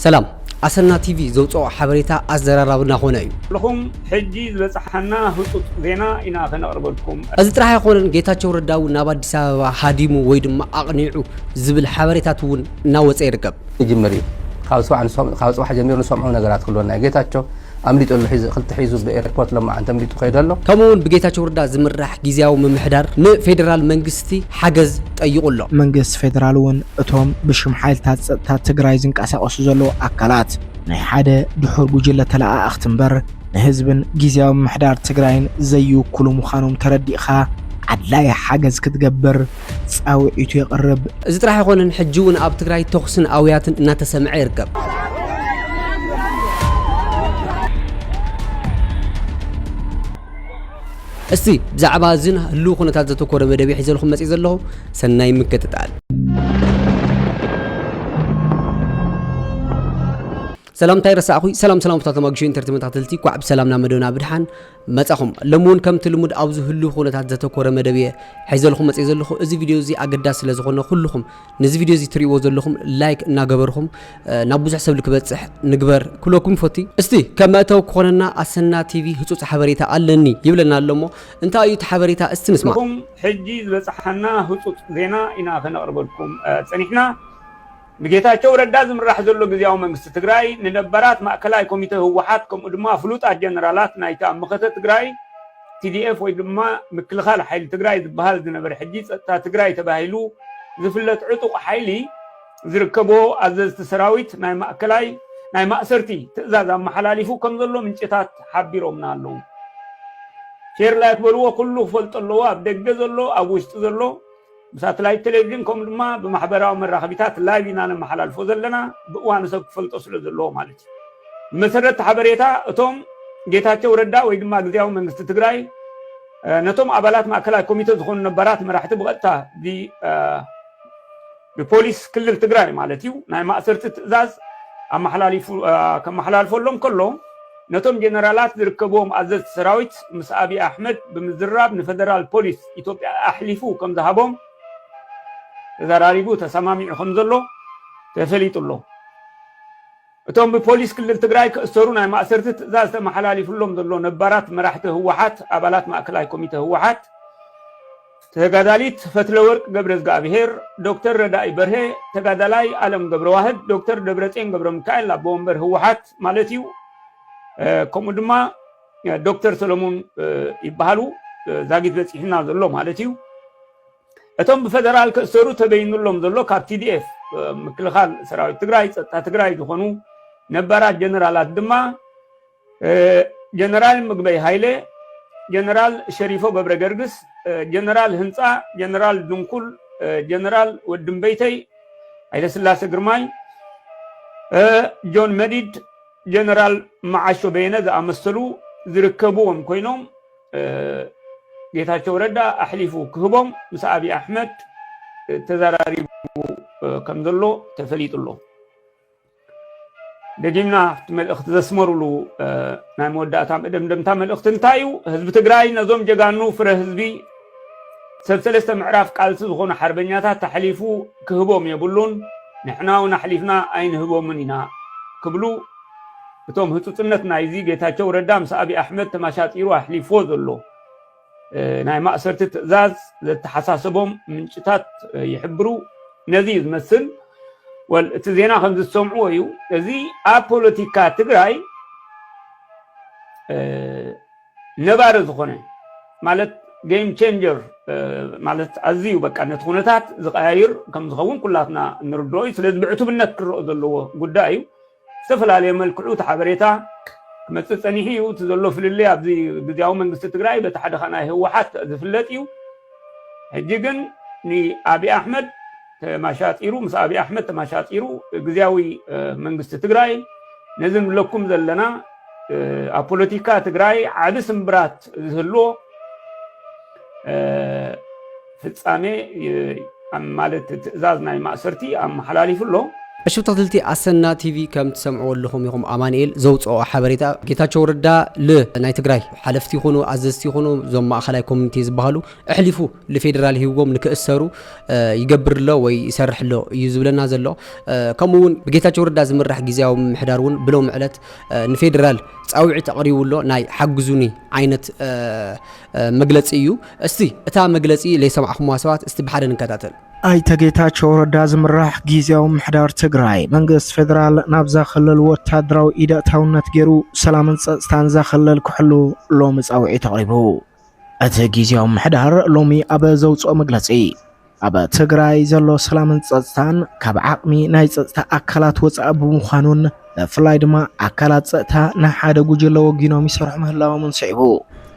ሰላም ኣሰና ቲቪ ዘውጽኦ ሓበሬታ ኣዘራራቢ ናኾነ እዩ። ኩልኹም ሕጂ ዝበጽሓና ህጹጽ ዜና ኢና ከነቕርበልኩም። እዚ ጥራሕ ኣይኮነን ጌታቸው ረዳ እውን ናብ ኣዲስ ኣበባ ሃዲሙ ወይ ድማ ኣቕኒዑ ዝብል ሓበሬታት እውን እናወፀ ይርከብ። ይጅምር እዩ ካብ ፅባሕ ጀሚሩ ንሰምዖ ነገራት ክህልወና እዩ ጌታቸው ኣምሊጡ ኣሎ ሒዚ ክልተ ሒዙ ብኤርፖርት ሎማዓንቲ ኣምሊጡ ከይዱ ኣሎ። ከምኡ ውን ብጌታቸው ረዳ ዝምራሕ ጊዚያዊ ምምሕዳር ንፌዴራል መንግስቲ ሓገዝ ጠይቑ ኣሎ። መንግስቲ ፌዴራል ውን እቶም ብሽም ሓይልታት ፀጥታ ትግራይ ዝንቀሳቐሱ ዘለዉ ኣካላት ናይ ሓደ ድሑር ጉጅለ ተለኣኣኽቲ ምበር ንህዝብን ጊዚያዊ ምምሕዳር ትግራይን ዘይውክሉ ምዃኖም ተረዲእኻ ኣድላዪ ሓገዝ ክትገብር ፃውዒቱ የቕርብ። እዚ ጥራሕ ኣይኮነን ሕጂ እውን ኣብ ትግራይ ተኹስን ኣውያትን እናተሰምዐ ይርከብ። እስቲ ብዛዕባ እዝን ህልው ኩነታት ዘተኮረ መደብ ሒዘልኩም መፅእ ዘለኹ ሰናይ ምክትታል። ሰላምታይ ረሳዕኹ ሰላም ሰላም ፍታት ተማግሾ ኢንተርቴመንት ኣትልቲ ኳዕ ብሰላም ናብ መደብና ብድሓን መጻኹም። ሎሚ ውን ከምቲ ልሙድ ኣብዚ ህሉው ኩነታት ዘተኮረ መደብ እየ ሒዘልኹም መጽየ ዘለኹ። እዚ ቪድዮ እዚ ኣገዳሲ ስለ ዝኾነ ኩሉኹም ንዚ ቪድዮ እዚ ትርእይዎ ዘለኹም ላይክ እናገበርኹም ናብ ብዙሕ ሰብ ልክበጽሕ ንግበር ክብለኩም ይፎቲ። እስቲ ከም መእተዊ ክኾነና ኣሰና ቲቪ ህጹጽ ሓበሬታ ኣለኒ ይብለና ኣሎ እሞ እንታይ እዩ እቲ ሓበሬታ እስቲ ንስማዕ። ንኹም ሕጂ ዝበጽሓና ህጹጽ ዜና ኢና ከነቕርበልኩም ጸኒሕና። ብጌታቸው ረዳ ዝምራሕ ዘሎ ግዝያዊ መንግስቲ ትግራይ ንነባራት ማእከላይ ኮሚተ ህወሓት ከምኡ ድማ ፍሉጣት ጀነራላት ናይታ መኸተ ትግራይ tdf ወይ ድማ ምክልኻል ሓይሊ ትግራይ ዝበሃል ዝነበረ ሕጂ ፀጥታ ትግራይ ተባሂሉ ዝፍለጥ ዕጡቕ ሓይሊ ዝርከቦ ኣዘዝቲ ሰራዊት ናይ ማእከላይ ናይ ማእሰርቲ ትእዛዝ ኣመሓላሊፉ ከም ዘሎ ምንጭታት ሓቢሮምና ኣለዉ ሼር ላይክ በልዎ ኩሉ ክፈልጦ ኣለዎ ኣብ ደገ ዘሎ ኣብ ውሽጢ ዘሎ ብሳትላይት ቴሌቪዥን ከምኡ ድማ ብማሕበራዊ መራኸቢታት ላይቭ ኢና ነመሓላልፎ ዘለና ብእዋኑ ሰብ ክፈልጦ ስለ ዘለዎ ማለት እዩ ብመሰረት ሓበሬታ እቶም ጌታቸው ረዳ ወይ ድማ ግዜያዊ መንግስቲ ትግራይ ነቶም ኣባላት ማእከላይ ኮሚቴ ዝኾኑ ነበራት መራሕቲ ብቐጥታ ብፖሊስ ክልል ትግራይ ማለት እዩ ናይ ማእሰርቲ ትእዛዝ ኣመሓላልፎሎም ከሎ ነቶም ጀነራላት ዝርከብዎም ኣዘዝቲ ሰራዊት ምስ ኣብዪ ኣሕመድ ብምዝርራብ ንፈደራል ፖሊስ ኢትዮጵያ ኣሕሊፉ ከምዝሃቦም ተዘራሪቡ ተሰማሚዑ ከምዘሎ ተፈሊጡ ኣሎ። እቶም ብፖሊስ ክልል ትግራይ ክእሰሩ ናይ ማእሰርቲ ትእዛዝ ተመሓላሊፍሎም ዘሎ ነባራት መራሕቲ ህወሓት ኣባላት ማእከላይ ኮሚተ ህወሓት፣ ተጋዳሊት ፈትለወርቅ ገብረዝግኣብሄር፣ ዶክተር ረዳኢ በርሀ፣ ተጋዳላይ ኣለም ገብረዋህድ፣ ዶክተር ደብረጼን ገብረሚካኤል ኣቦ ወንበር ህወሓት ማለት እዩ፣ ከምኡ ድማ ዶክተር ሰለሙን ይበሃሉ ዛጊት በፂሑና ዘሎ ማለት እዩ። እቶም ብፌደራል ክእሰሩ ተበይኑሎም ዘሎ ካብ ቲዲኤፍ ምክልኻል ሰራዊት ትግራይ ፀጥታ ትግራይ ዝኾኑ ነባራት ጀነራላት ድማ ጀነራል ምግበይ ሃይለ፣ ጀነራል ሸሪፎ ገብረገርግስ፣ ጀነራል ህንፃ፣ ጀነራል ድንኩል፣ ጀነራል ወድምበይተይ፣ ሃይለስላሰ ግርማይ፣ ጆን መዲድ፣ ጀነራል መዓሾ በየነ ዝኣመሰሉ ዝርከብዎም ኮይኖም ጌታቸው ረዳ ኣሕሊፉ ክህቦም ምስ ኣብዪ ኣሕመድ ተዘራሪቡ ከምዘሎ ተፈሊጡ ኣሎ። ደጊምና ኣብቲ መልእኽቲ ዘስመሩሉ ናይ መወዳእታ መደምደምታ መልእኽቲ እንታይ እዩ ህዝቢ ትግራይ ነዞም ጀጋኑ ፍረ ህዝቢ ሰብ ሰለስተ ምዕራፍ ቃልሲ ዝኾኑ ሓርበኛታት ኣሕሊፉ ክህቦም የብሉን ንሕና እውን ኣሕሊፍና ኣይንህቦምን ኢና ክብሉ እቶም ህፁፅነት ናይዚ ጌታቸው ረዳ ምስ ኣብዪ ኣሕመድ ተመሻጢሩ ኣሕሊፍዎ ዘሎ ናይ ማእሰርቲ ትእዛዝ ዘተሓሳሰቦም ምንጭታት ይሕብሩ። ነዚ እዩ ዝመስል ወል እቲ ዜና ከምዚ ዝሰምዕዎ እዩ እዚ ኣብ ፖለቲካ ትግራይ ነባሪ ዝኾነ ማለት ጌም ቼንጀር ማለት ኣዝዩ በቃ ነቲ ኩነታት ዝቀያይር ከም ዝኸውን ኩላትና ንርድኦ እዩ ስለዚ ብዕቱብነት ክረኦ ዘለዎ ጉዳይ እዩ ብዝተፈላለየ መልክዑ እቲ ሓበሬታ ክመፅእ ፀኒሑ እዩ። እቲ ዘሎ ፍልልይ ኣብዚ ግዝያዊ መንግስቲ ትግራይ በቲ ሓደ ከዓ ናይ ህወሓት ዝፍለጥ እዩ። ሕጂ ግን ንኣብይ ኣሕመድ ተማሻጢሩ ምስ ኣብይ ኣሕመድ ተማሻጢሩ ግዝያዊ መንግስቲ ትግራይ ነዚ ንብለኩም ዘለና ኣብ ፖለቲካ ትግራይ ዓቢ ስምብራት ዝህልዎ ፍጻሜ ማለት ትእዛዝ ናይ ማእሰርቲ ኣመሓላሊፉ ኣሎ። ዕሽብ ተክትልቲ ኣሰና ቲቪ ከም ትሰምዕዎ ኣለኹም ኢኹም ኣማኒኤል ዘውጽኦ ሓበሬታ ጌታቸው ረዳ ል ናይ ትግራይ ሓለፍቲ ይኹኑ ኣዘዝቲ ይኹኑ ዞም ማእኸላይ ኮሚኒቴ ዝባሃሉ እሕሊፉ ልፌደራል ሂብዎም ንክእሰሩ ይገብር ኣሎ ወይ ይሰርሕ ኣሎ እዩ ዝብለና ዘሎ ከምኡ ውን ብጌታቸው ረዳ ዝምራሕ ጊዜያዊ ምምሕዳር ውን ብሎሚ ዕለት ንፌደራል ጻውዒት ኣቕሪቡ ኣሎ ናይ ሓግዙኒ ዓይነት መግለጺ እዩ እስቲ እታ መግለጺ ለይሰማዕኹምዋ ሰባት እስቲ ብሓደ ንከታተል። ኣይተ ጌታቸው ረዳ ዝምራሕ ጊዜያዊ ምሕዳር ትግራይ መንግስቲ ፌደራል ናብዛ ክልል ወታደራዊ ኢድ ኣእታውነት ገይሩ ሰላምን ፀፅታን እዛ ክልል ክሕሉ ሎሚ ፃውዒት ኣቕሪቡ። እቲ ጊዜያዊ ምሕዳር ሎሚ ኣብ ዘውፅኦ መግለፂ ኣብ ትግራይ ዘሎ ሰላምን ፀፅታን ካብ ዓቕሚ ናይ ፀፅታ ኣካላት ወፃኢ ብምዃኑን ብፍላይ ድማ ኣካላት ፀጥታ ንሓደ ጉጅለ ወጊኖም ይሰርሑ ምህላዎምን ስዒቡ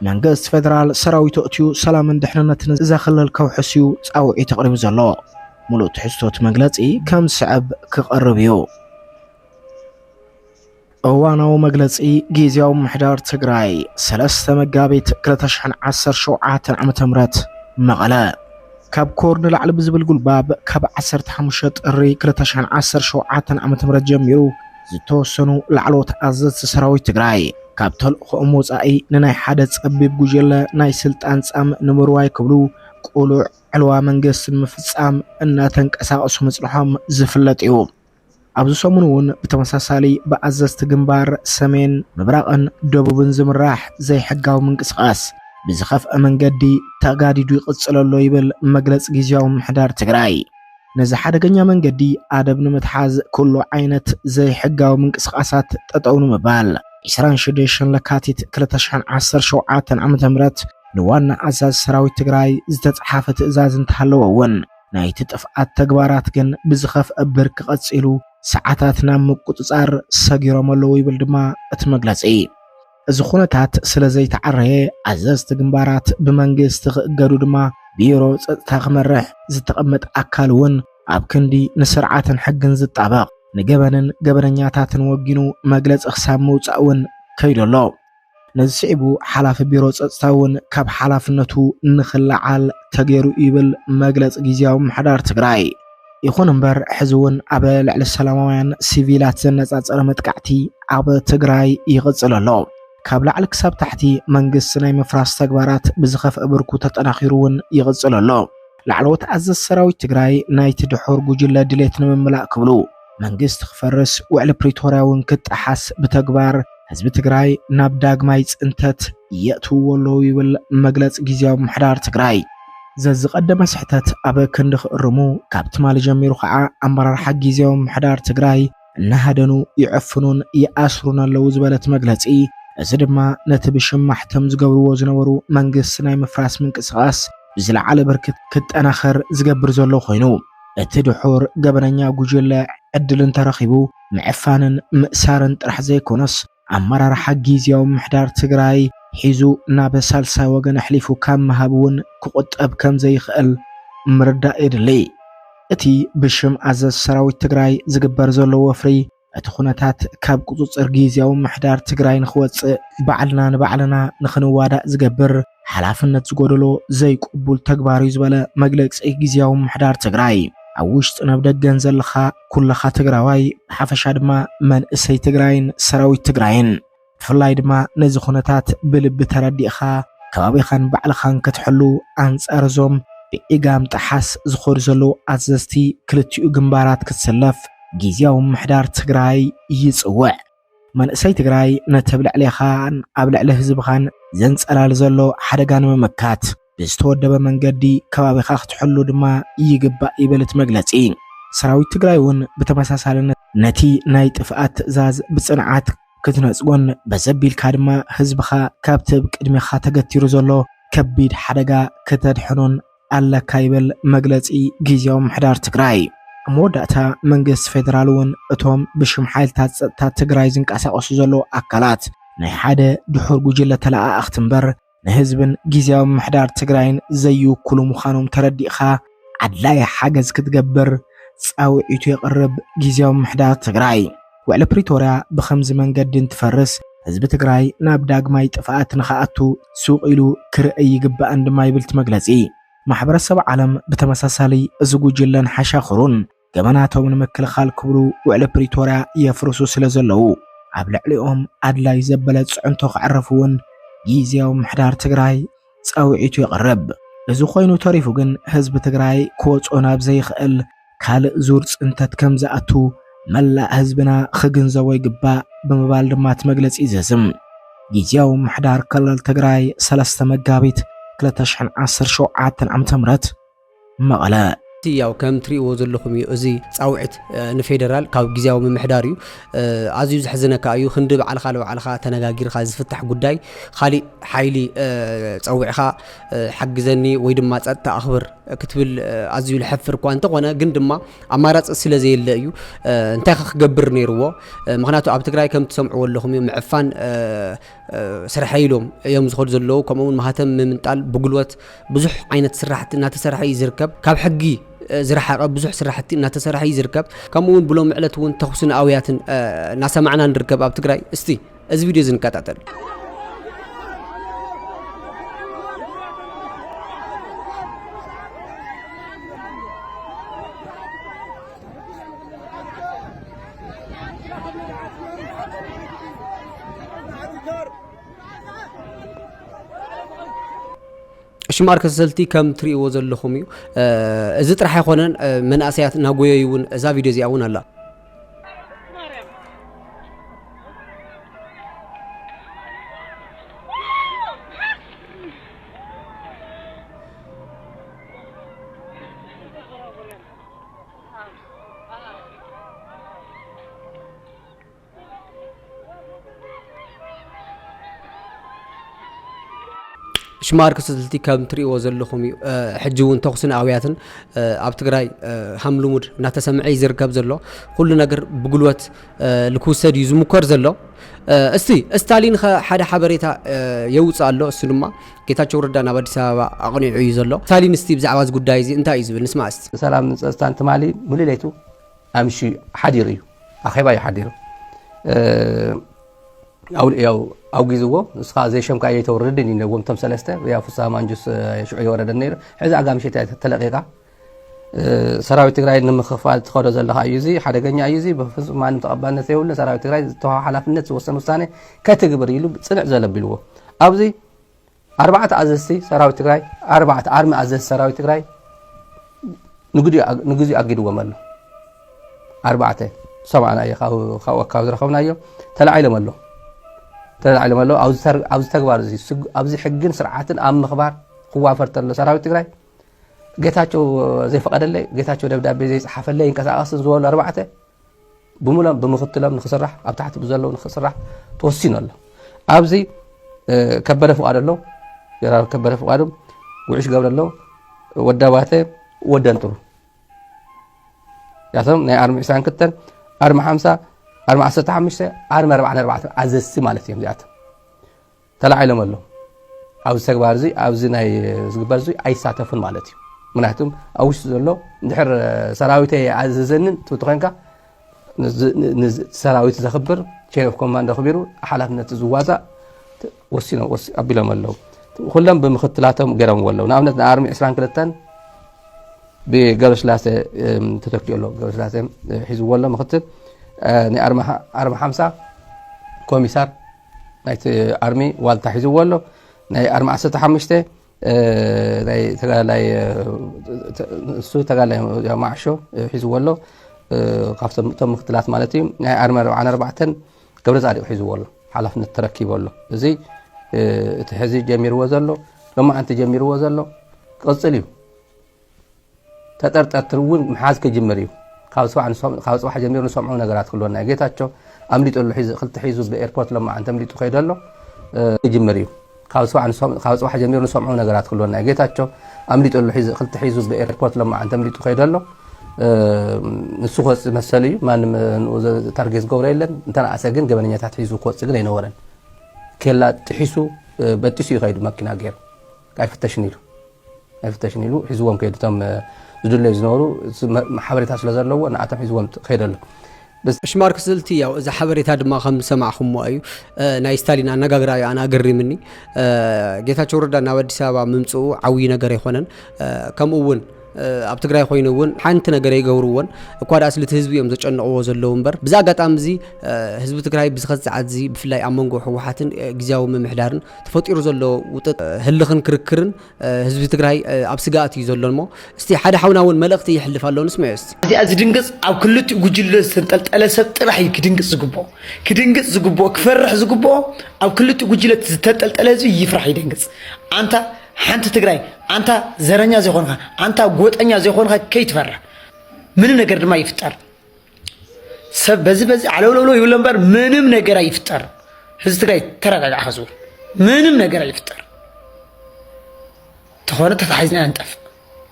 መንግስቲ ፌደራል ሰራዊቱ ኣእትዩ ሰላምን ድሕንነትን እዛ ክልል ከውሕስ እዩ ፃውዒት ኣቕሪቡ ዘሎ። ሙሉእ ትሕዝቶት መግለፂ ከም ዝስዕብ ክቐርብ እዩ። እዋናዊ መግለጺ ጊዜያዊ ምሕዳር ትግራይ ሰለስተ መጋቢት 2017 ዓ ም መቐለ ካብ ኮር ንላዕሊ ብዝብል ጉልባብ ካብ 15 ጥሪ 2017 ዓ ም ጀሚሩ ዝተወሰኑ ላዕለዎት ኣዘዝቲ ሰራዊት ትግራይ ካብ ተልእኾኦም ወፃኢ ንናይ ሓደ ፀቢብ ጉጀለ ናይ ስልጣን ፃም ንምርዋይ ክብሉ ቁሉዕ ዕልዋ መንግስቲ ንምፍፃም እናተንቀሳቐሱ ምፅንሖም ዝፍለጥ እዩ። ኣብዚ ሰሙን እውን ብተመሳሳሊ ብኣዘዝቲ ግንባር ሰሜን ምብራቕን ደቡብን ዝምራሕ ዘይሕጋዊ ምንቅስቓስ ብዝኸፍአ መንገዲ ተጋዲዱ ይቕፅል ኣሎ ይብል መግለፂ ጊዜያዊ ምምሕዳር ትግራይ። ነዚ ሓደገኛ መንገዲ ኣደብ ንምትሓዝ ኩሉ ዓይነት ዘይሕጋዊ ምንቅስቓሳት ጠጠው ንምባል ዕስራን ሽዱሽተን ለካቲት ክልተ ሽሕን ዓሰርተ ሸውዓተን ዓመተ ምህረት ንዋና ኣዛዚ ሰራዊት ትግራይ ዝተፅሓፈ ትእዛዝ እንተሃለወ እውን ናይቲ ጥፍኣት ተግባራት ግን ብዝኸፍአ ብርኪ ቀፂሉ ሰዓታት ናብ ምቁፅፃር ሰጊሮም ኣለዉ ይብል ድማ እቲ መግለፂ። እዚ ኩነታት ስለዘይተዓረየ ኣዘዝቲ ግንባራት ብመንግስቲ ክእገዱ ድማ ቢሮ ፀፅታ ክመርሕ ዝተቐመጠ ኣካል እውን ኣብ ክንዲ ንስርዓትን ሕግን ዝጣበቕ ንገበንን ገበነኛታትን ወጊኑ መግለፂ ክሳብ ምውፃእ እውን ከይዱ ኣሎ። ነዚ ስዒቡ ሓላፊ ቢሮ ፀፅታ እውን ካብ ሓላፍነቱ ንክለዓል ተገይሩ እዩ ይብል መግለፂ ግዝያዊ ምምሕዳር ትግራይ። ይኹን እምበር ሕዚ እውን ኣብ ልዕሊ ሰላማውያን ሲቪላት ዘነፃፀረ መጥቃዕቲ ኣብ ትግራይ ይቕፅል ኣሎ። ካብ ላዕሊ ክሳብ ታሕቲ መንግስቲ ናይ ምፍራስ ተግባራት ብዝኸፍአ ብርኩ ተጠናኺሩ እውን ይቕፅል ኣሎ። ላዕለዎት ኣዘዝቲ ሰራዊት ትግራይ ናይቲ ድሑር ጉጅለ ድሌት ንምምላእ ክብሉ፣ መንግስቲ ክፈርስ ውዕሊ ፕሪቶርያ እውን ክጠሓስ ብተግባር ህዝቢ ትግራይ ናብ ዳግማይ ፅንተት የእትውዎ ኣለዉ ይብል መግለፂ ግዝያዊ ምምሕዳር ትግራይ። ዘዝቐደመ ስሕተት ኣብ ክንዲ ክእርሙ ካብ ትማሊ ጀሚሩ ከዓ ኣመራርሓ ግዝያዊ ምምሕዳር ትግራይ እናሃደኑ ይዕፍኑን ይኣስሩን ኣለዉ ዝበለ እቲ መግለፂ እዚ ድማ ነቲ ብሽም ማሕተም ዝገብርዎ ዝነበሩ መንግስቲ ናይ ምፍራስ ምንቅስቓስ ብዝለዓለ ብርኪ ክጠናኸር ዝገብር ዘሎ ኮይኑ እቲ ድሑር ገበነኛ ጉጅለ ዕድል እንተረኺቡ ምዕፋንን ምእሳርን ጥራሕ ዘይኮነስ ኣመራርሓ ጊዝያዊ ምምሕዳር ትግራይ ሒዙ ናብ ሳልሳይ ወገን ኣሕሊፉ ካብ ምሃብ እውን ክቑጠብ ከምዘይኽእል ምርዳእ የድሊ። እቲ ብሽም ኣዘዝቲ ሰራዊት ትግራይ ዝግበር ዘሎ ወፍሪ እቲ ኩነታት ካብ ቁፅፅር ጊዜያዊ ምሕዳር ትግራይ ንክወፅእ ባዕልና ንባዕልና ንክንዋዳእ ዝገብር ሓላፍነት ዝጎደሎ ዘይቅቡል ተግባር እዩ ዝበለ መግለፂ ጊዜያዊ ምሕዳር ትግራይ ኣብ ውሽጥን ኣብ ደገን ዘለኻ ኩልኻ ትግራዋይ ብሓፈሻ ድማ መንእሰይ ትግራይን ሰራዊት ትግራይን ብፍላይ ድማ ነዚ ኩነታት ብልቢ ተረዲእኻ ከባቢኻን ባዕልኻን ክትሕሉ ኣንጻር እዞም ብዒጋም ጠሓስ ዝኸዱ ዘለዉ ኣዘዝቲ ክልቲኡ ግንባራት ክትስለፍ ጊዝያዊ ምምሕዳር ትግራይ ይጽውዕ። መንእሰይ ትግራይ ነቲ ኣብ ልዕሌኻን ኣብ ልዕሊ ህዝብኻን ዘንጸላሊ ዘሎ ሓደጋ ንምምካት፣ ብዝተወደበ መንገዲ ከባቢኻ ክትሕሉ ድማ ይግባእ ይብል እቲ መግለፂ። ሰራዊት ትግራይ እውን ብተመሳሳሊ ነቲ ናይ ጥፍኣት ትእዛዝ ብፅንዓት ክትነፅጎን በዚ ኣቢልካ ድማ ህዝብኻ ካብቲ ኣብ ቅድሜኻ ተገቲሩ ዘሎ ከቢድ ሓደጋ ክተድሕኖን ኣለካ ይብል መግለፂ ጊዚያዊ ምምሕዳር ትግራይ። ኣብ መወዳእታ መንግስቲ ፌደራል እውን እቶም ብሽም ሓይልታት ፀጥታ ትግራይ ዝንቀሳቐሱ ዘለዉ ኣካላት ናይ ሓደ ድሑር ጉጅለ ተለኣኣኽቲ እምበር ንህዝብን ጊዜያዊ ምሕዳር ትግራይን ዘይውክሉ ምዃኖም ተረዲእኻ ኣድላዪ ሓገዝ ክትገብር ጻውዒቱ የቕርብ ጊዜያዊ ምሕዳር ትግራይ። ውዕሊ ፕሪቶርያ ብኸምዚ መንገዲ እንትፈርስ ህዝቢ ትግራይ ናብ ዳግማይ ጥፍኣት ንኽኣቱ ሱቕ ኢሉ ክርእይ ይግባእን ድማ ይብል እቲ መግለጺ። ማሕበረሰብ ዓለም ብተመሳሳሊ እዚ ጉጅለን ሓሻኽሩን ገበናቶም ንምክልኻል ክብሉ ውዕሊ ፕሪቶርያ የፍርሱ ስለ ዘለዉ ኣብ ልዕሊኦም ኣድላይ ዘበለ ፅዕንቶ ከዕርፍ እውን ጊዜያዊ ምሕዳር ትግራይ ጸውዒቱ የቕርብ። እዚ ኮይኑ ተሪፉ ግን ህዝቢ ትግራይ ክወፅኦ ናብ ዘይኽእል ካልእ ዙር ፅንተት ከም ዝኣቱ መላእ ህዝብና ክግንዘቦ ይግባእ ብምባል ድማ እቲ መግለፂ ይዘዝም። ጊዜያዊ ምሕዳር ክልል ትግራይ ሰለስተ መጋቢት ክልተ ሽሕን ዓሰርተ ሸውዓተን ዓመተ ምህረት መቐለ። ያው ከም ትሪእዎ ዘለኹም እዩ እዚ ጻውዒት ንፌደራል ካብ ግዝያዊ ምምሕዳር እዩ። ኣዝዩ ዘሕዝነካ እዩ ክንዲ ባዕልኻ ንባዕልኻ ተነጋጊርካ ዝፍታሕ ጉዳይ ካሊእ ሓይሊ ጸዊዕኻ ሓግዘኒ ወይ ድማ ጸጥታ ኣኽብር ክትብል ኣዝዩ ልሐፍር እኳ እንተኾነ ግን ድማ ኣማራጺ ስለ ዘየለ እዩ እንታይ ክገብር ነይርዎ ምክንያቱ ኣብ ትግራይ ከም ትሰምዕዎ ኣለኹም እዩ ምዕፋን ስርሐይ ኢሎም እዮም ዝኸዱ ዘለዉ ከምኡ እውን ማህተም ምምንጣል ብጉልበት ብዙሕ ዓይነት ስራሕቲ እናተሰርሐ እዩ ዝርከብ ካብ ሕጊ ዝረሓቐ ብዙሕ ስራሕቲ እናተሰርሐ እዩ ዝርከብ ከምኡ እውን ብሎም ዕለት እውን ተኹስን ኣውያትን እናሰማዕና ንርከብ ኣብ ትግራይ እስቲ እዚ ቪድዮ እዚ ንከታተል ሽማር ከሰልቲ ከም ትሪእዎ ዘለኹም እዩ እዚ ጥራሕ ኣይኮነን መንእሰያት ናጎየዩ እውን እዛ ቪድዮ እዚኣ እውን ኣላ ሽማርክ ስልቲ ከም ትሪእዎ ዘለኹም እዩ ሕጂ እውን ተኹስን ኣውያትን ኣብ ትግራይ ሃም ልሙድ እናተሰምዐ እዩ ዝርከብ ዘሎ ኩሉ ነገር ብጉልበት ልክውሰድ እዩ ዝሙከር ዘሎ እስቲ እስታሊን ሓደ ሓበሬታ የውፅእ ኣሎ እሱ ድማ ጌታቸው ረዳ ናብ ኣዲስ ኣበባ ኣቕኒዑ እዩ ዘሎ። ስታሊን እስቲ ብዛዕባ እዚ ጉዳይ እዚ እንታይ እዩ ዝብል ንስማዕ እስቲ። ንሰላምን ንፀፅታን ትማሊ ሙሉእ ለይቱ ኣምሽዩ ሓዲሩ እዩ ኣኼባ እዩ ሓዲሩ ያው ኣውጊዝዎ ንስኻ ዘይሸምካ የይተውርድን ይነዎም ቶም ሰለስተ ያው ፍስሃ ማንጁስ ሽዑ የወረደን ነይሩ ሕዚ ኣጋ ምሸት ተለቂቓ ሰራዊት ትግራይ ንምክፋል ትኸዶ ዘለኻ እዩ እዚ ሓደገኛ እዩ እዚ ብፍፁም ማንም ተቐባልነት ዘይብሉን ሰራዊት ትግራይ ዝተዋሃ ሓላፍነት ዝወሰን ውሳነ ከትግብር ኢሉ ፅንዕ ዘለ ኣቢልዎ ኣብዚ ኣርባዕተ ኣዘዝቲ ሰራዊት ትግራይ ኣርባዕተ ኣርሚ ኣዘዝቲ ሰራዊት ትግራይ ንግዚኡ ኣጊድዎም ኣሎ ኣርባዕተ ሰማዕና እዩ ካብኡ ካብ ዝረኸብናዮ ተላዒሎም ኣሎ ተላዒሎም ኣሎ ኣብዚ ተግባር እዚ ኣብዚ ሕግን ስርዓትን ኣብ ምኽባር ክዋፈር ተሎ ሰራዊት ትግራይ ጌታቸው ዘይፈቐደለይ፣ ጌታቸው ደብዳቤ ዘይጸሓፈለይ ኣይንቀሳቐስን ዝበሉ ኣርባዕተ ብምሎም ብምክትሎም ንክስራሕ ኣብ ታሕቲ ብዘለዉ ንክስራሕ ተወሲኑ ኣሎ ኣብዚ ከበደ ፍቃድ ኣሎ ጀነራል ከበደ ፍቃዱ ጉዕሽ ገብረ ኣሎ ወዳባተ ወደንጥሩ ያቶም ናይ ኣርሚ 2 ክተን ኣርሚ ሓምሳ ኣርሚ ዓሰርተ ሓሙሽተ ኣርሚ ኣርባዕተ ኣርባዕተ ኣዘዝቲ ማለት እዮም እዚኣቶም ተላዒሎም ኣለው። ኣብዚ ተግባር እዚ ኣብዚ ናይ ዝግበር እዚ ኣይሳተፉን ማለት እዩ ምክንያቱም ኣብ ውሽጢ ዘሎ ድሕር ሰራዊት ኣዘዘንን ትብቲ ኮንካ ሰራዊት ዘኽብር ቼን ኦፍ ኮማንድ ኣኽቢሩ ሓላፍነት ዝዋፃእ ወሲኖም ኣቢሎም ኣለው ኩሎም ብምክትላቶም ገይሮምዎ ኣለው ንኣብነት ንኣርሚ 22 ብገብረስላሴ ተተኪኡ ኣሎ ገብረስላሴ ሒዝዎ ኣሎ ምክትል ንኣርሚ ሓምሳ ኮሚሳር ናይቲ ኣርሚ ዋልታ ሒዝዎ ኣሎ ናይ ኣርሚ ዓሰርተ ሓሙሽተ ናይ ተጋዳላይ ንሱ ተጋዳላይ ማዕሾ ሒዝዎ ኣሎ ካብቶም እቶም ምክትላት ማለት እዩ ናይ ኣርሚ ኣርባዓን ኣርባዕተን ገብረ ፃዲቅ ሒዝዎ ኣሎ ሓላፍነት ተረኪቦ ኣሎ እዚ እቲ ሕዚ ጀሚርዎ ዘሎ ሎማዓንቲ ጀሚርዎ ዘሎ ቅፅል እዩ ተጠርጠርቲ እውን ምሓዝ ክጅምር እዩ። ካብ ፅባሕ ጀሚሩ ንሰምዖም ነገራት ክህልወና እዩ። ጌታቸው ኣምሊጡ ኣሎ ሒዙ ክልተ ሒዙ ብኤርፖርት ሎማዓንቲ ኣምሊጡ ከይዱ ኣሎ ክጅምር እዩ። ካብ ፅባሕ ጀሚሩ ንሰምዖም ነገራት ክህልወና እዩ። ጌታቸው ኣምሊጡ ኣሎ ሒዙ ክልተ ሒዙ ብኤርፖርት ሎማዓንቲ ኣምሊጡ ከይዱ ኣሎ ንሱ ክወፅእ መሰሉ እዩ። ማንም ንኡ ታርጌት ዝገብሮ የለን። እንተነኣሰ ግን ገበነኛታት ሒዙ ክወፅእ ግን ኣይነበረን። ኬላ ጥሒሱ በጢሱ እዩ ከይዱ መኪና ገይሩ ኣይፍተሽን ኢሉ ኣይፍተሽን ኢሉ ሒዝዎም ከይዱ እቶም ዝድለዩ ዝነበሩ ሓበሬታ ስለ ዘለዎ ንኣቶም ሒዝዎም ከይደ ኣሎ ሽማርክ ስልቲ ያው እዚ ሓበሬታ ድማ ከም ዝሰማዕኹሞ እዩ ናይ ስታሊን ኣነጋግራ እዩ ኣነ ኣገሪምኒ ጌታቸው ረዳ ናብ ኣዲስ ኣበባ ምምፅኡ ዓብዪ ነገር ኣይኮነን ከምኡ እውን ኣብ ትግራይ ኮይኑ እውን ሓንቲ ነገር ይገብርዎን እኳ ደኣ ስልቲ ህዝቢ እዮም ዘጨንቕዎ ዘለዉ እምበር ብዛ ኣጋጣሚ እዚ ህዝቢ ትግራይ ብዝኸት ሰዓት እዚ ብፍላይ ኣብ መንጎ ህወሓትን ግዜያዊ ምምሕዳርን ተፈጢሩ ዘሎ ውጥጥ ህልኽን ክርክርን ህዝቢ ትግራይ ኣብ ስጋኣት እዩ ዘሎ እሞ እስቲ ሓደ ሓውና እውን መልእኽቲ ይሕልፍ ኣሎ ንስምዑ እስቲ እዚኣ ዝድንግፅ ኣብ ክልቲኡ ጉጅለ ዝተንጠልጠለ ሰብ ጥራሕ እዩ ክድንግፅ ዝግብኦ ክድንግፅ ዝግብኦ ክፈርሕ ዝግብኦ ኣብ ክልቲኡ ጉጅለ ዝተንጠልጠለ ህዝቢ ይፍራሕ ይደንግፅ ኣንታ ሓንቲ ትግራይ ኣንታ ዘረኛ ዘይኮንካ ኣንታ ጎጠኛ ዘይኮንካ ከይትፈርሕ ምንም ነገር ድማ ይፍጠር ሰብ በዚ በዚ ዓለውለውለው ይብሎ እምበር ምንም ነገር ኣይፍጠር። ህዝቢ ትግራይ ተረጋጋዕ ከዝቡ ምንም ነገር ኣይፍጠር። ተኾነ ተታሒዝና ንጠፍ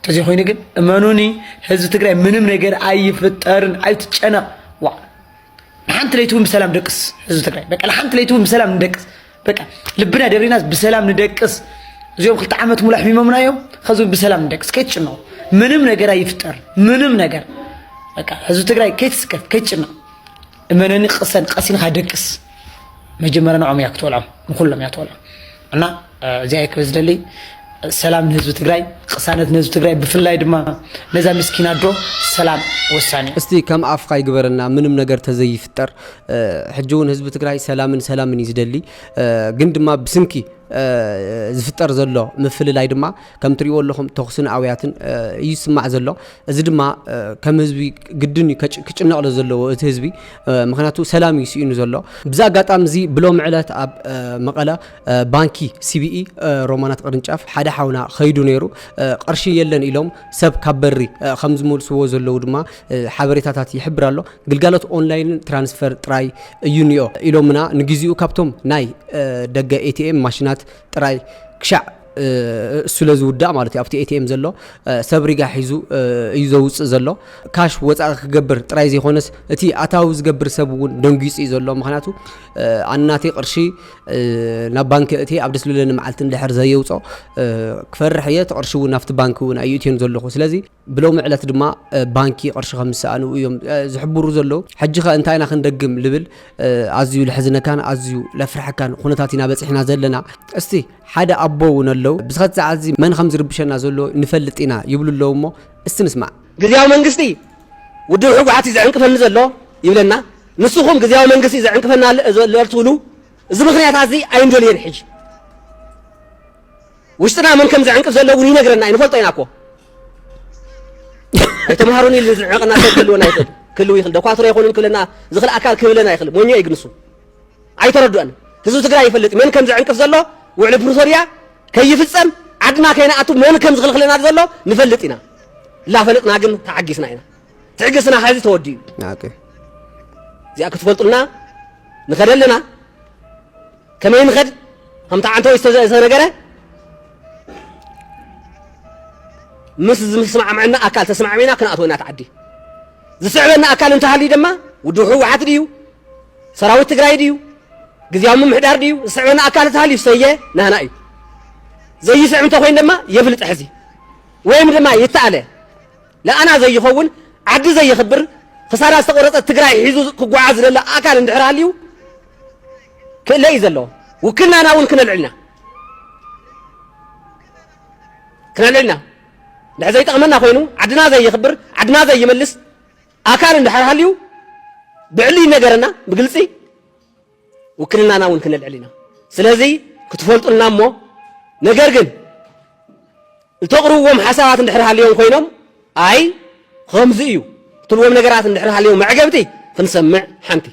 ተዘይኮይኑ ግን እመኑኒ ህዝቢ ትግራይ ምንም ነገር ኣይፍጠርን። ኣይትጨነቕ ዋ ንሓንቲ ለይቲ እውን ብሰላም ደቅስ ህዝቢ ትግራይ በቃ ንሓንቲ ለይቲ እውን ብሰላም ንደቅስ በቃ ልብና ደሪናስ ብሰላም ንደቅስ። እዚኦም ክልተ ዓመት ሙሉ ኣሕሚሞምና እዮም። ከዚ ብሰላም ንደቅስ፣ ከይትጭነቁ። ምንም ነገር ኣይፍጠር፣ ምንም ነገር በቃ ህዝቢ ትግራይ ከይትስከፍ፣ ከይትጭነቅ። እመነኒ፣ ቅሰን ቀሲንካ ደቅስ። መጀመርያ ንዖም እያ ክትበልዖም፣ ንኩሎም እያ ትበልዖም እና እዚኣ ክበዝደልይ ሰላም ንህዝቢ ትግራይ ቅሳነት ንህዝቢ ትግራይ ብፍላይ ድማ ነዛ ምስኪን ኣዶ ሰላም ወሳኒ እዩ። እስቲ ከም ኣፍካ ይግበረልና ምንም ነገር ተዘይፍጠር ሕጂ እውን ህዝቢ ትግራይ ሰላምን ሰላምን እዩ ዝደሊ ግን ድማ ብስንኪ ዝፍጠር ዘሎ ምፍልላይ ድማ ከም ትሪእዎ ኣለኹም ተኹስን ኣውያትን እዩ ዝስማዕ ዘሎ እዚ ድማ ከም ህዝቢ ግድን እዩ ክጭነቕሎ ዘለዎ እቲ ህዝቢ ምክንያቱ ሰላም እዩ ስኢኑ ዘሎ ብዛ ኣጋጣሚ እዚ ብሎም ዕለት ኣብ መቐለ ባንኪ ሲቢኢ ሮማናት ቅርንጫፍ ሓደ ሓውና ከይዱ ነይሩ ቅርሺ የለን ኢሎም ሰብ ካብ በሪ ከም ዝመልስዎ ዘለዉ ድማ ሓበሬታታት ይሕብር ኣሎ ግልጋሎት ኦንላይን ትራንስፈር ጥራይ እዩ ኒኦ ኢሎምና ንግዚኡ ካብቶም ናይ ደገ ኤቲኤም ማሽናት ጥራይ ክሻዕ ስለ ዝውዳእ ማለት እዩ ኣብቲ ኤቲኤም ዘሎ ሰብ ሪጋ ሒዙ እዩ ዘውፅእ ዘሎ ካሽ ወፃኢ ክገብር ጥራይ ዘይኮነስ እቲ ኣታዊ ዝገብር ሰብ እውን ደንጊፁ እዩ ዘሎ ምክንያቱ ኣናተይ ቅርሺ ናብ ባንኪ የእትየ ኣብ ደስልለኒ መዓልቲ እንድሕር ዘየውፆ ክፈርሕ እየ እቲ ቅርሺ እውን ኣብቲ ባንኪ እውን ኣይእትዮን ዘለኹ ስለዚ ብሎሚ ዕለት ድማ ባንኪ ቅርሺ ከም ዝሰኣኑ እዮም ዝሕብሩ ዘለዉ ሕጂ ከ እንታይ ኢና ክንደግም ልብል ኣዝዩ ልሕዝነካን ኣዝዩ ለፍርሐካን ኩነታት ኢና በፂሕና ዘለና እስቲ ሓደ ኣቦ እውን ኣለዉ ብስኸት ሰዓት እዚ መን ከም ዝርብሸና ዘሎ ንፈልጥ ኢና ይብሉ ኣለዉ እሞ እስቲ ንስማዕ ግዜያዊ መንግስቲ ውድብ ሕጉሓት እዩ ዝዕንቅፈኒ ዘሎ ይብለና ንስኹም ግዝያዊ መንግስቲ ዘዕንቅፈና ኣሎ ዘሎ ትብሉ እዚ ምኽንያታትዚ ኣይንደልዮን ሕጂ ውሽጥና መን ከም ዘዕንቅፍ ዘሎ እውን ይነግረና እዩ ንፈልጦ ኢና እኮ ኣይተምሃሩን ኢሉ ዝዕንቀና ሰብ ክህልወና ይኽእል ክህልው ይኽእል ደኳትሮ ይኹንን ክብለና ዝኽእል ኣካል ክህብለና ይኽእል ሞኞ እዩ ግን ንሱ ኣይተረድኦን ህዝቢ ትግራይ ይፈልጥ መን ከም ዘዕንቅፍ ዘሎ ውዕሊ ፕሪቶርያ ከይፍፀም ዓድና ከይንኣቱ መን ከም ዝኽልክለና ዘሎ ንፈልጥ ኢና ላፈለጥና ግን ተዓጊስና ኢና ትዕግስና ሐዚ ተወዲኡ እዚኣ ክትፈልጡልና ንኸደ ኣለና ከመይ ንኸድ ከምቲ ዓንተወ ዝተነገረ ምስ ዝስማዕምዐና ኣካል ተስማዕሚና ክንኣትወ ኢና ትዓዲ ዝስዕበና ኣካል እንተሃልዩ ድማ ውድብ ህወሓት ድዩ ሰራዊት ትግራይ ድዩ ግዜያዊ ምምሕዳር ድዩ ዝስዕበና ኣካል እንተሃልዩ ሰየ ናህና እዩ ዘይስዕብ እንተኮይኑ ድማ የብልጥ ሕዚ ወይም ድማ ይተኣለ ንኣና ዘይኸውን ዓዲ ዘየኽብር ክሳዳ ዝተቆረፀት ትግራይ ሒዙ ክጓዓዝ ዝደሊ ኣካል እንድሕር ሃልዩ ክእለ እዩ ዘለዎ ውክልናና እውን ክነልዕልና ክነልዕልና ድሕር ዘይጠቕመና ኮይኑ ዓድና ዘየኽብር ዓድና ዘይመልስ ኣካል እንድሕር ሃልዩ ብዕሊ ይነገረና ብግልፂ ውክልናና እውን ክነልዕል ኢና ስለዚ ክትፈልጡልና እሞ ነገር ግን እተቕርብዎም ሓሳባት እንድሕር ሃልዮም ኮይኖም ኣይ ከምዚ እዩ ትብልዎም ነገራት እንድሕር ሃልዮም መዕገብቲ ክንሰምዕ ሓንቲ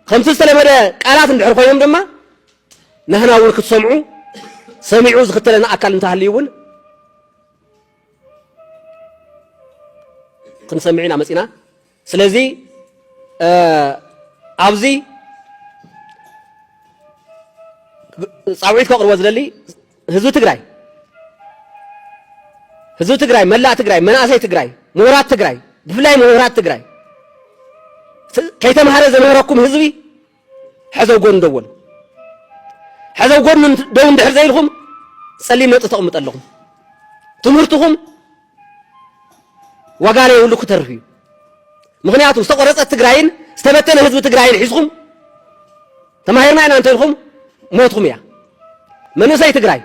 ከምቲ ዝተለመደ ቃላት እንድሕር ኮይኖም ድማ ንህና እውን ክትሰምዑ ሰሚዑ ዝኽተለና ኣካል እንተሃልዩ እውን ክንሰምዕ ኢና መፂና ስለዚ ኣብዚ ፃውዒት ከቕርቦ ዝደሊ ህዝቢ ትግራይ ህዝቢ ትግራይ መላእ ትግራይ መናእሰይ ትግራይ ምሁራት ትግራይ ብፍላይ ምሁራት ትግራይ ከይተምሃረ ዘምህረኩም ህዝቢ ሕዘው ጎን ደው በሉ። ሕዘው ጎን ደው እንድሕር ዘይልኹም ጸሊም ነጥቢ ተቕምጡ ኣለኹም። ትምህርትኹም ዋጋ ዘይብሉ ክተርፍ እዩ። ምክንያቱ ዝተቆረጸት ትግራይን ዝተበተነ ህዝቢ ትግራይን ሒዝኹም ተማሂርና ኢና እንተልኩም ሞትኩም እያ። መንእሰይ ትግራይ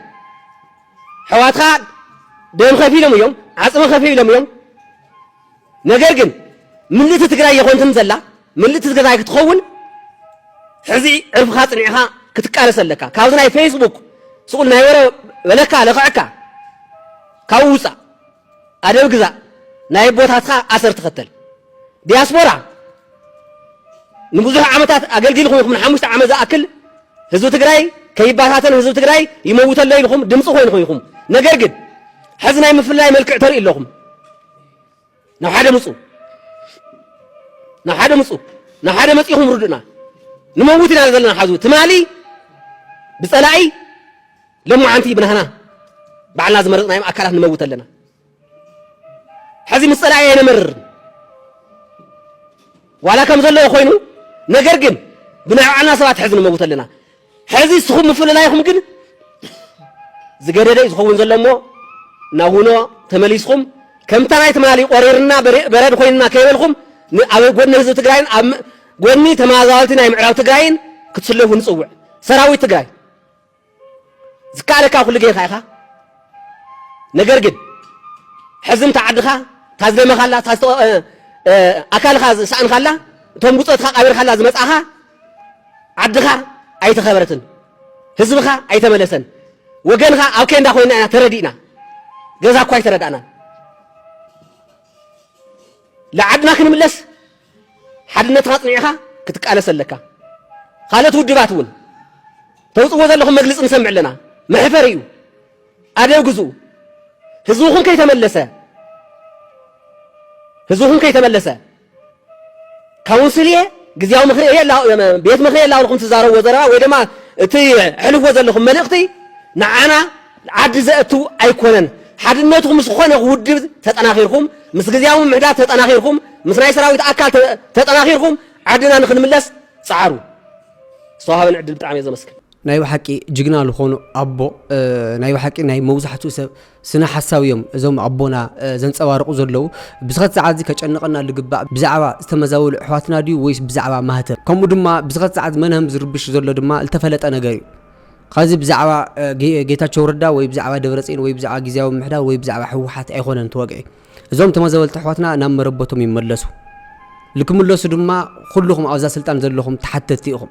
ሕዋትካ ደም ከፊሎም እዮም፣ ዓጽሚ ከፊሎም እዮም። ነገር ግን ምልእቲ ትግራይ የኾንትን ዘላ ምልእቲ ትግራይ ክትኸውን ሕዚ ዕርፍኻ ጽኒዕኻ ክትቃለስ ኣለካ ካብዚ ናይ ፌስቡክ ስቁል ናይ ወረ በለካ ለኽዕካ ካብኡ ውፃእ ኣደብ ግዛእ ናይ ኣቦታትካ ኣሰር ተኸተል ዲያስፖራ ንብዙሕ ዓመታት ኣገልጊልኩም ኢኹም ንሓሙሽተ ዓመት ዝኣክል ህዝቢ ትግራይ ከይባታተን ህዝቢ ትግራይ ይመውተሎ ኢልኩም ድምፂ ኮይንኹም ኢኹም ነገር ግን ሕዚ ናይ ምፍላይ መልክዕ ተርኢ ኣለኹም ናብ ሓደ ምፁ ናብ ሓደ ምፁ ናብ ሓደ መፂኹም ርዱእና ንመውት ኢና ዘለና ሓዙ ትማሊ ብፀላኢ ለማዓንቲ ብናህና ባዕልና ዝመረፅናዮም ኣካላት ንመውት ኣለና ሕዚ ምስ ፀላኢ ኣይነመርር ዋላ ከም ዘለዎ ኮይኑ ነገር ግን ብናይ ባዕልና ሰባት ሕዚ ንመውት ኣለና ሐዚ እስኹም ምፍልላይኹም ግን ዝገደደይ ዝኸውን ዘሎ እሞ ናብ ውኖ ተመሊስኹም ከምታ ናይ ትማሊ ቆሪርና በረድ ኮይንና ከይበልኹም ኣብ ጎኒ ህዝቢ ትግራይን ኣብ ጎኒ ተመዛበልቲ ናይ ምዕራብ ትግራይን ክትስለፉ ንፅውዕ ሰራዊት ትግራይ ዝከኣለካ ኩሉ ጌርካ ኢኻ ነገር ግን ሕዚ እንተ ዓድኻ ታዝደመኻላ ኣካልኻ ዝሰኣንካላ እቶም ጉፀትካ ቃቢርካላ ዝመፅእኻ ዓድኻ ኣይተኸበረትን፣ ህዝብኻ ኣይተመለሰን፣ ወገንኻ ኣብ ኬንዳ ኮይና ኢና ተረዲእና፣ ገዛ እኳ ኣይተረዳእናን። ልዓድና ክንምለስ ሓድነትኻ ኣጽኒዕኻ ክትቃለስ ኣለካ። ካልኦት ውድባት እውን ተውፅዎ ዘለኹም መግልፂ ንሰምዕ ኣለና። መሕፈር እዩ። ኣደብ ግዝኡ። ህዝብኹም ከይተመለሰ ህዝብኹም ከይተመለሰ ካውንስል እየ ግዝያዊ ምክሪ እየ ቤት ምክሪ እየ ላብልኩም ትዛረብዎ ዘረባ ወይ ድማ እቲ ሕልፍዎ ዘለኹም መልእኽቲ ንዓና ዓዲ ዘእቱ ኣይኮነን። ሓድነትኩም ምስ ዝኾነ ውድብ ተጠናኺርኩም ምስ ግዝያዊ ምምሕዳር ተጠናኺርኩም ምስ ናይ ሰራዊት ኣካል ተጠናኺርኩም ዓድና ንክንምለስ ፀዓሩ። ዝተዋሃበን ዕድል ብጣዕሚ እየ ዘመስግን። ናይ ብሓቂ ጅግና ልኾኑ ኣቦ ናይ ብሓቂ ናይ መብዛሕትኡ ሰብ ስነ ሓሳብ እዮም እዞም ኣቦና ዘንጸባርቑ ዘለዉ ብዝኸት ሰዓት እዚ ከጨንቐና ልግባእ ብዛዕባ ዝተመዛበሉ ኣሕዋትና ድዩ ወይስ ብዛዕባ ማህተም ከምኡ ድማ ብዝኸት ሰዓት መናህም ዝርብሽ ዘሎ ድማ ዝተፈለጠ ነገር እዩ ኸዚ ብዛዕባ ጌታቸው ረዳ ወይ ብዛዕባ ደብረፅን ወይ ብዛዕባ ግዜያዊ ምሕዳር ወይ ብዛዕባ ህወሓት ኣይኮነን ተወግዒ እዞም ተመዘበልቲ ኣሕዋትና ናብ መረበቶም ይመለሱ ልክምለሱ ድማ ኩልኹም ኣብዛ ስልጣን ዘለኹም ተሓተትቲ ኢኹም